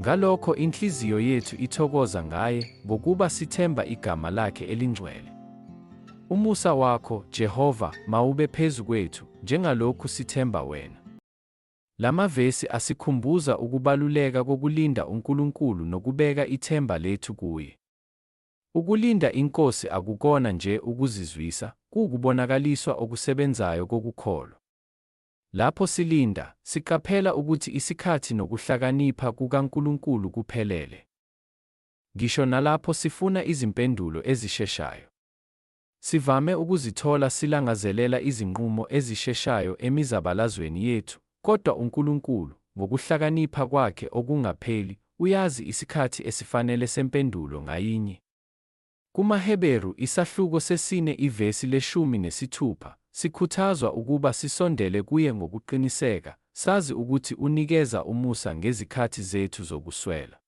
Ngalokho inhliziyo yethu ithokoza ngaye ngokuba sithemba igama lakhe elingcwele. Umusa wakho, Jehova, mawube phezu kwethu, njengalokhu sithemba wena. Lamavesi asikhumbuza ukubaluleka kokulinda uNkulunkulu nokubeka ithemba lethu kuye. Ukulinda iNkosi akukona nje ukuzizwisa, kuwukubonakaliswa okusebenzayo kokukholwa. Lapho silinda, siqaphela ukuthi isikhathi nokuhlakanipha kukaNkulunkulu kuphelele. Ngisho nalapho sifuna izimpendulo ezisheshayo, sivame ukuzithola silangazelela izinqumo ezisheshayo emizabalazweni yethu, kodwa uNkulunkulu, ngokuhlakanipha kwakhe okungapheli, uyazi isikhathi esifanele sempendulo ngayinye. KumaHeberu, isahluko sesine ivesi leshumi nesithupha, sikhuthazwa ukuba sisondele kuye ngokuqiniseka, sazi ukuthi unikeza umusa ngezikhathi zethu zokuswela.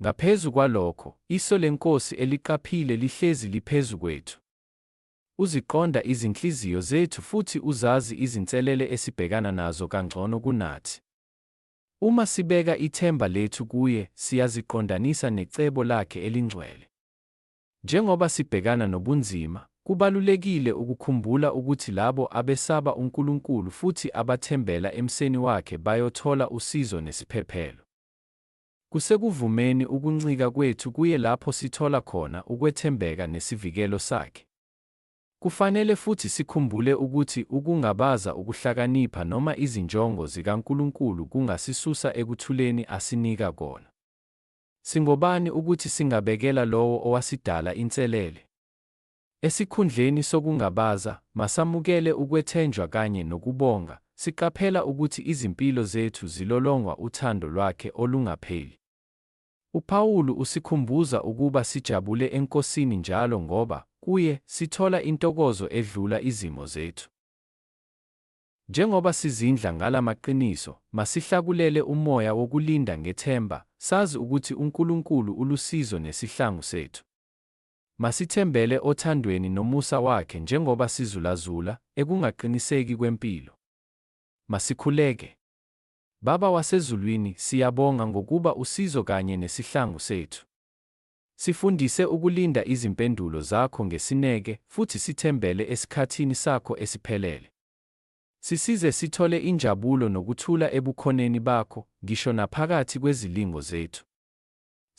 Ngaphezu kwalokho, iso leNkosi eliqaphile lihlezi liphezu kwethu. Uziqonda izinhliziyo zethu futhi uzazi izinselele esibhekana nazo kangcono kunathi. Uma sibeka ithemba lethu kuye, siyaziqondanisa necebo lakhe elingcwele. Njengoba sibhekana nobunzima, kubalulekile ukukhumbula ukuthi labo abesaba uNkulunkulu futhi abathembela emseni wakhe bayothola usizo nesiphephelo. Kusekuvumeni ukuncika kwethu kuye lapho sithola khona ukwethembeka nesivikelo sakhe. Kufanele futhi sikhumbule ukuthi ukungabaza ukuhlakanipha noma izinjongo zikaNkulunkulu kungasisusa ekuthuleni asinika kona. Singobani ukuthi singabekela Lowo owasidala inselele? Esikhundleni sokungabaza, masamukele ukwethenjwa kanye nokubonga, siqaphela ukuthi izimpilo zethu zilolongwa uthando lwakhe olungapheli. UPawulu usikhumbuza ukuba sijabule eNkosini njalo ngoba, kuye, sithola intokozo edlula izimo zethu. Njengoba sizindla ngala maqiniso, masihlakulele umoya wokulinda ngethemba, sazi ukuthi uNkulunkulu ulusizo nesihlangu sethu. Masithembele othandweni nomusa wakhe njengoba sizulazula ekungaqiniseki kwempilo. Masikhuleke. Baba waseZulwini, siyabonga ngokuba usizo kanye nesihlangu sethu. Sifundise ukulinda izimpendulo zakho ngesineke futhi sithembele esikhathini sakho esiphelele. Sisize sithole injabulo nokuthula eBukhoneni bakho, ngisho naphakathi kwezilingo zethu.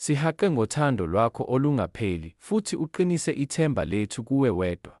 Sihaqe ngothando lwakho olungapheli futhi uqinise ithemba lethu kuwe wedwa.